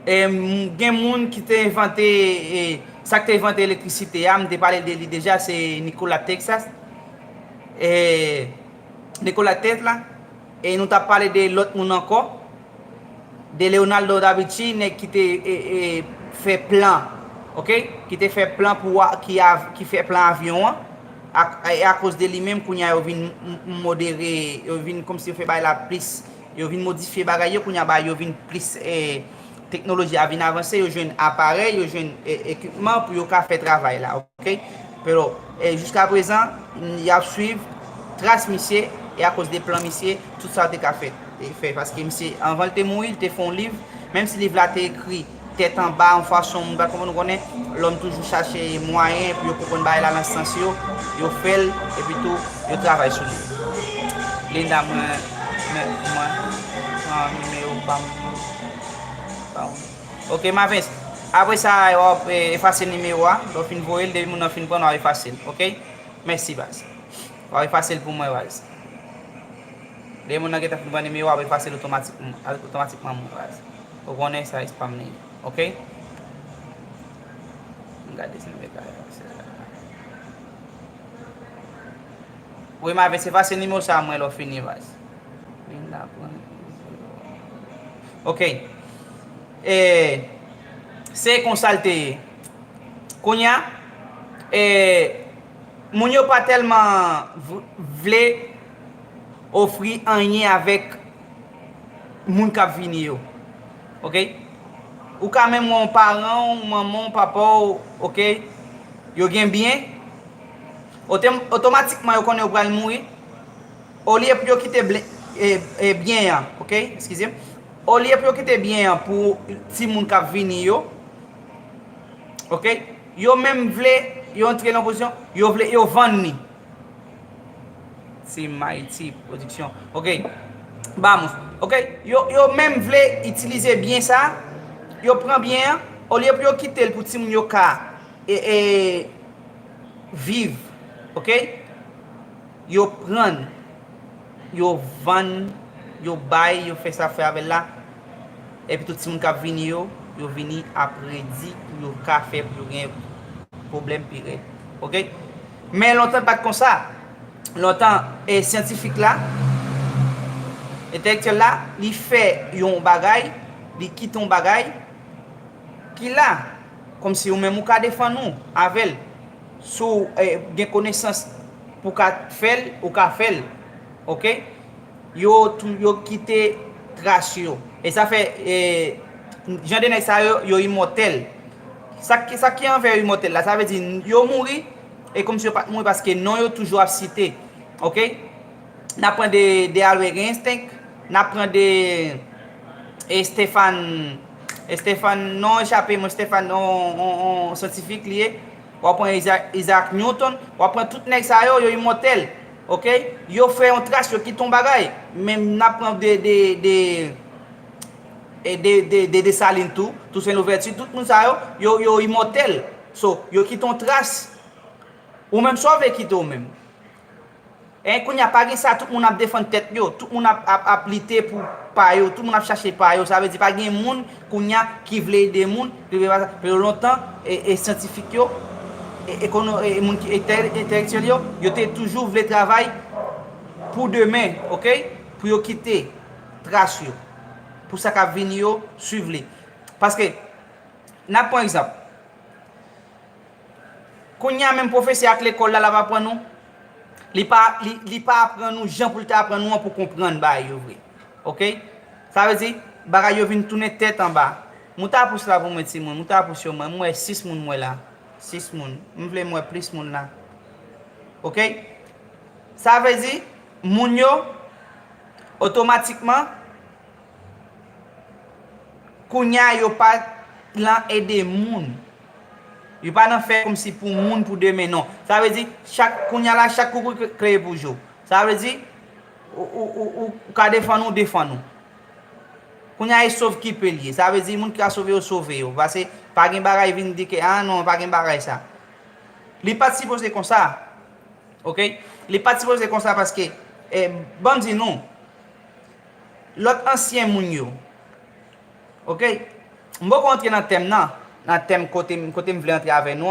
Gen moun ki te envante, sa k te envante elektrisite a, m te pale de li deja, se Nikola Teksas, Nikola Tesla, e nou t ap pale de lòt moun ankò, de Leonardo da Vinci, nèg ki te fè plan, ok, ki te fè plan pou, ki fè plan avyon an, e akoz de li menm kounye a yo vin modere, yo vin kòmsi yo fè bagay la plis Yo vin modifye bagay yo kounye a bagay yo vin plis teknoloji a vin avanse yo jwenn aparèy yo jwenn ekipman pou yo ka fè travay la ok pero jiska prezan yap swiv tras misye e akoz de plan misye tout sa te ka fè paske misye anvan l te mouri l te fon liv menm si liv la te ekri Tèt anba yon fason moun pa t konprann. Ou konnen, lòm toujou chache mwayen pou yo konprann bagay la nan sans yo. Yo fè l, epitou yo travay sou li. Linda, mwen, mwen, mwen pran nimewo pa m ba w. Oke, Mavens. Apre sa, w ap efase nimewo a. Lè w fin voye l, depi moun nan fin pran l, w ap efase l. Oke? Mèsi, baz. W ap efase l pou mwen, baz. Depi moun nan gentan fin pran nimewo a, w ap efase l otomatikman, otomatikman, baz. Ou konnen size pam li ok. Wi ma ve se pa se nimewo sa mwen lò fini baz. Ok. E se konsal te ye. Kounya e moun yo pa tèlman vle ofri anyen avèk moun kap vini yo ok ou ka menm wè yon paran w manman w papa w ok yo gen byen otomatikman yo konnen yo pral mouri olye pou yo kite byen an ok eskize olye pou yo kite byen an pou ti moun kap vini yo ok yo menm vle yo antre nan pozisyon yo vle yo vann ni Se Mighty Production. Ok. Bam. Ok. Yo, yo menm vle itilize byen sa. Yo pran byen an. Olye pou yo kite l pou ti moun yo ka e, e viv. Ok. Yo pran. Yo vann. Yo bay. Yo fè sa fè avè l la. Epi tout ti moun kap vini yo, yo vini a predi pou yo ka fè pou yo gen pwoblèm pi rèd. Ok. Men lontan l pa t konsa. Lontan, syantifik la, entelektyèl la, li fè yon bagay, li kite yon bagay ki la, kòmsi ou menm ou ka defann ou avè l. Si w gen konesans pou w ka fè l, ou ka fè l. Oke? Yo tou, yo kite tras yo. E sa fè, jan de nèg sa yo, yo imòtèl. Sak ki sak ki anvè imòtèl la sa vle di yo mouri e kòmsi yo pat mouri paske non yo toujou ap site ok nap pran de de Albert Einstink nap pran de e Stefan Estefan non an echape mwen Stefan on on on syantifik li ye wap pran Iza Izaak Nyouton wap pran tout nèg sa yo yo imòtèl ok yo fè yon tras yo kite yon bagay men nap pran de de de de Dessalines tou, Toussaint Louverture, tout moun sa yo, yo, yo imòtèl. So, yo kite yon tras. Ou menm sa w vle kite w menm? Hein, kounye a pa gen sa tout moun ap defann tèt yo, tout moun ap, ap, ap lite pou pa yo, tout moun ap chache pa yo, sa vle di pa gen moun kounye a ki vle ede moun, ki vle pa sa. Yo lontan, e, e syantifik yo, e, ekono, e moun ki entè, entèlektyèl yo, yo te toujou vle travay pou demen, ok, pou yo kite tras yo. Pou sa k ap vini yo, suiv li. Paske, n ap pran egzanp, kounye a menm pwofesè ak lekòl la l ap aprann nou, li pa aprann nou jan pou l te aprann nou an pou w konprann bagay yo vre. Ok? Sa vle di, bagay yo vin tounen tèt anba. Moute a pous la pou mwen timoun, moute a pous yo mwen. M wè 6 moun m wè la. 6 moun. M vle m wè plis moun la. Ok? Sa vle di, moun yo. Otomatikman, kounye a yo pa lan ede moun. Yo pa nan fè kòmsi pou moun pou demen non. Sa vle di, chak, kounye a la chak koukouy kreye pou jo. Sa vle di, ou ka defann ou, defann ou. Kounye a e sov ki pe l ye. Sa vle di moun ki ka sove yo, sove yo. Pase pa gen bagay vin di ke, a non, pa gen bagay sa. Li pa t sipoze konsa. Ok li pat sipoze konsa paske banm di nou lot ansyen moun yo ok m poko antre nan tèm nan nan tèm kotem kotem vle antre avè nou an.